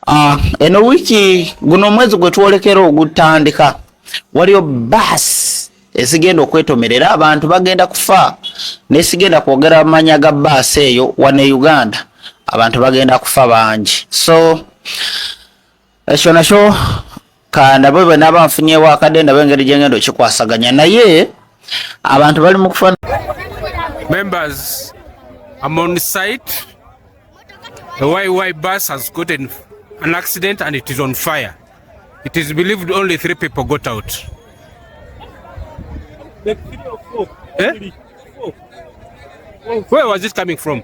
Ah, eno wiiki guno omwezi gwe twolekera ogutandika waliyo baasi ezigenda okwetomerera abantu bagenda kufa nesigenda kwogera manya ga baasi eyo wane e uganda abantu bagenda kufa bangi so ekyo nakyo kandabe bwe naaba nfunyewo akadde ndabe engeri gye ngenda okikwasaganya naye abantu bali mu kufa members am on site the yy bus has gotten an accident and it is on fire it is believed only three people got out eh? where was it coming from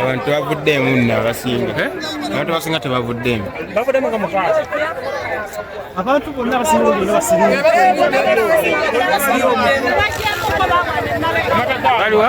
abantu tebavuddeemu nno abasinga eh? abantu abasinga tebavuddeemu bavuddemu nga mukaazi abantu bonna abasinga olina basiriwaliwa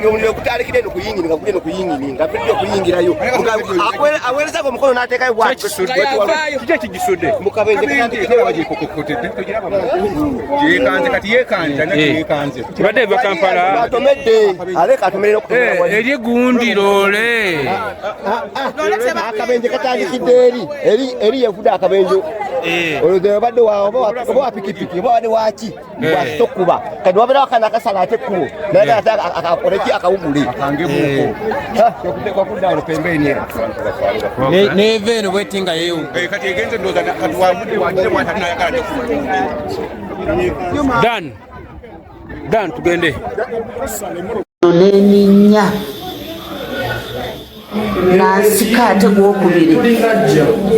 nga okutandikira eno kuyingini nga kuli eno kuyingini nga bidde okuyingirayo aweerezako omukono n'ateekayo bwakiki ekigisudde yekanze kati yekanze yekanze kibadde eva kampala atomedde aleka atomere eri gundi loole akabenje katandikidde eri eri yevude akabenje olwo obadde oba wapikipiki oba wade waki bwasita okukuba kati wabeera wakana akasala ate ekkubo naye ate akakoleki akawugule neva eno bweti nga yewdan dan tugende neninnya nansika ate gwokubiri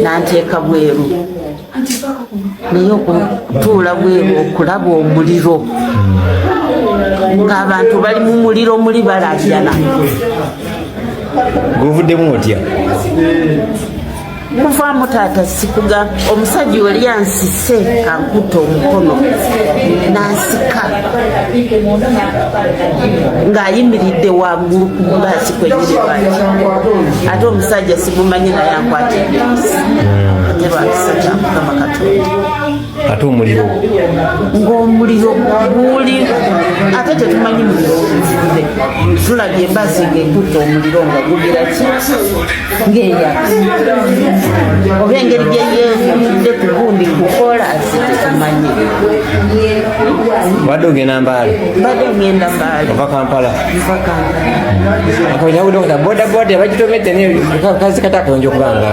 nanteeka bweru naye okutuula bweru okulaba omuliro ng'abantu bali mu muliro muli balaajana gwovuddemu otya kuvaamu taata sikuga omusajja oli ansise ankuta omukono nansika ng'ayimiridde waggulu ku bulaasi kwenyini lwaki ate omusajja simumanyi naye ankwatidde hmm. ne lwakisa kyamukama katonda ate omuliro ng'omuliro guli ate tetumanyi muliro weguvude tulabye embazzi ng'ekutte omuliro nga gugira ki ng'eya oba engeri gye yeeyimudde ku gundi kukola ate tetumanyi badde ogenda mbaale badde ogenda mbaale ova kampala ova kampala akoyawudde okuta bodaboda bagitomedde naye kazi kata akayonja okubanga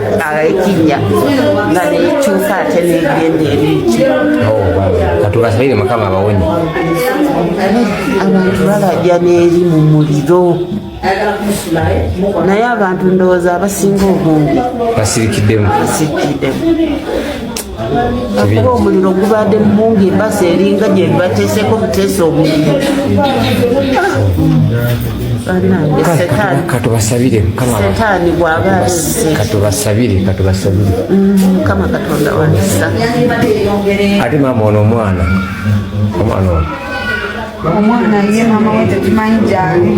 aekinnya nga nekyuka ate negenda ebiki katubasabire mukama abawonye abantu balajja neeri mu muliro naye abantu ndowooza abasinga obungi basirikiddemu basirikiddemu Akuba omuliro gubaadde mu mungu embasa eringa gye bateeseeko buteesa omuliro katubasabire setaani bwaba azze katubasabire katubasabire mukama katonda wanisa ate maama ono omwana omwana ono omwana ye mama we tetumanyi gyali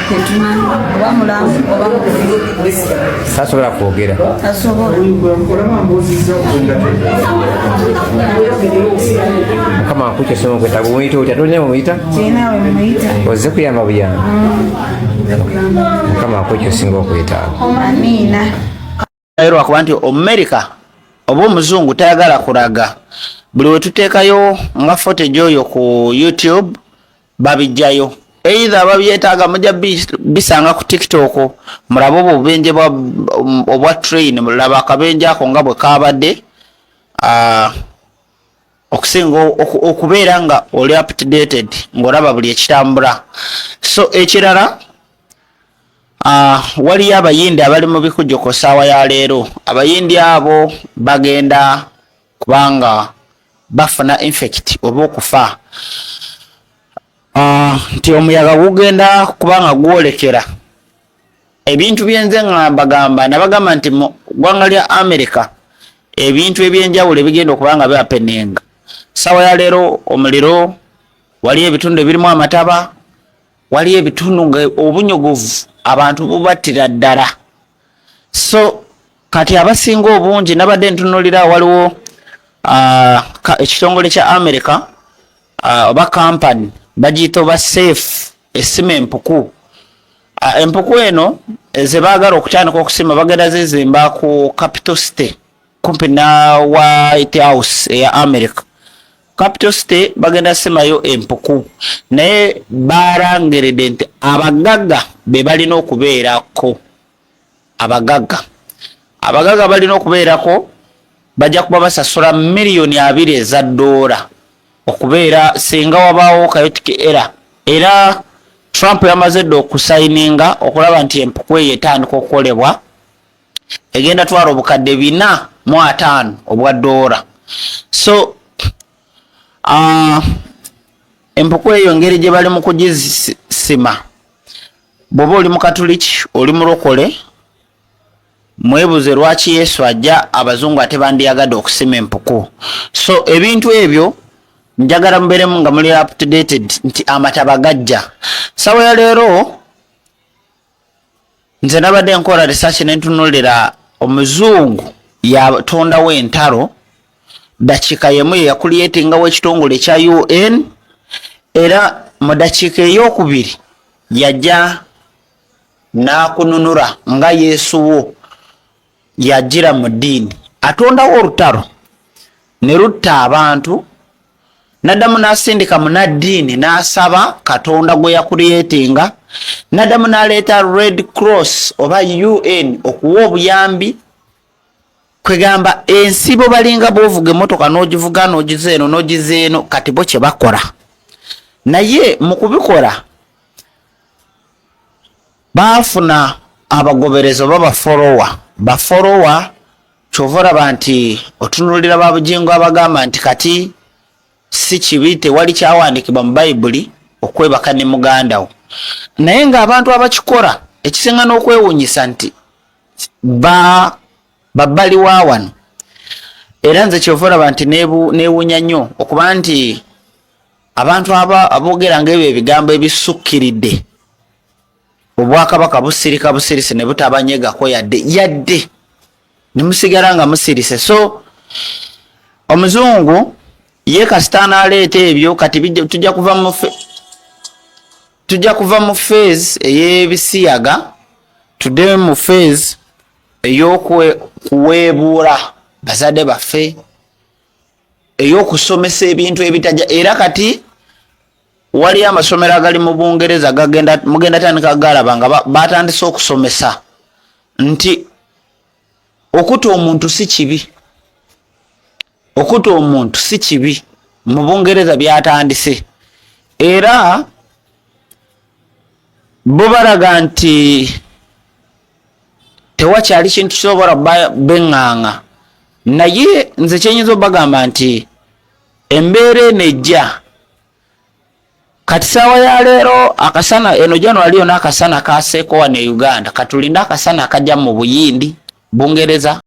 tetumanyi oba mulamu oba tasobola kwogera mukama akuky esoma okwetaga omuyita otya tolina mumuyita ozze kuyamba buyamba mm. mukama akuky osinga okwetaaga naye lwakuba nti omumerika oba omuzungu tayagala kulaga buli wetuteekayo nga fotage oyo ku youtube babijjayo eitha babyetaaga muja bisanga ku tiktok mulabe obwo obubenje obwa train mulaba akabenje ako nga bwe kaabadde ah, okusinga okubeera nga oli updated ng'olaba buli ekitambula so ekirala Uh, waliyo abayindi abali mu bikujo ku saawa ya leero abayindi abo bagenda kubanga bafuna infect oba okufa ah, nti uh, omuyaga gugenda kubanga gwolekera ebintu byenze ngambagamba nabagamba nti mu ggwanga lya america ebintu ebyenjawulo ebigenda okuba nga byapenenga sawa ya leero omuliro waliyo ebitundu ebirimu amataba waliyo ebitundu nga obunyogovu abantu bubattira ddala so kati abasinga obungi nabadde ntunulira waliwo uh, ekitongole kya america uh, oba kampani bagiyita oba safe esima empuku uh, empuku eno eh, zebaagala okutandika okusima bagenda zizimba ku capital city kumpi na white house eya america capital city bagenda simayo empuku naye barangerede nti abagagga bebalina okubeerako abagagga abagagga balina okubeerako bajja kuba basasula miliyoni abiri eza doola okubeera singa wabaawo kayotiki era era trump yamaze dda okusayininga okulaba nti empuku eyo etandika okukolebwa egenda twala obukadde bina mu ataano obwa doola so uh, empuku eyo ngeri gye bali mu kugisima bwoba oli mukatuliki oli mulokole mwebuze lwaki yesu ajja abazungu ate bandiyagade okusima empuku so ebintu ebyo njagala muberemu nga muli updated nti amataba gajja sawa ya leero nze nabadde nkola research nentunulira omuzungu yatondawo entalo dakiika yemu yeyakuliyetingawo ekitongole ekya un era mu dakiika eyokubiri yajja nakununura nga yesu wo yajira mu ddiini atondawo olutalo ne lutta abantu nadamu nasindika munaddiini nasaba katonda gwe yakuliyetinga nadamu naleeta red cross oba un okuwa obuyambi kwegamba ensibo balinga bovuga emotoka nogivuga nogiza eno nogiza eno kati bo kyebakola naye mukubikola bafuna abagoberezo babafolowa bafolowa kyova olaba nti otunulira babugingo abagamba nti kati si kibi tewali kyawandikibwa mu bayibuli okwebaka ne mugandawo naye nga abantu abakikola ekisinga n'okwewunyisa nti ba babbali wa wano era nze kyova olaba nti newunya nnyo okuba nti abantu aboogera nga ebyo ebigambo ebisukkiridde obwakabaka busirika busirise ne butabanyegako yadde yadde ne musigala nga musirise so omuzungu ye kasita anaaleeta ebyo kati tujja kuva mu tujja kuva mu fees ey'ebisiyaga tudde mu feezi eyokuweebuula bazadde baffe eyokusomesa ebintu ebitaja era kati waliyo amasomero agali mu bungereza mugenda tandika galaba nga batandise okusomesa nti okuta omuntu si kibi okuta omuntu si kibi mu bungereza byatandise era bo balaga nti tewakyali kintu kisobora beŋŋaŋa naye nze kyenyinza obagamba nti embeera eno ejja Kati saawa ya leero akasana eno January yona akasana kaseeko wano e Uganda katulinde akasana akaja mu Buyindi, Bungereza.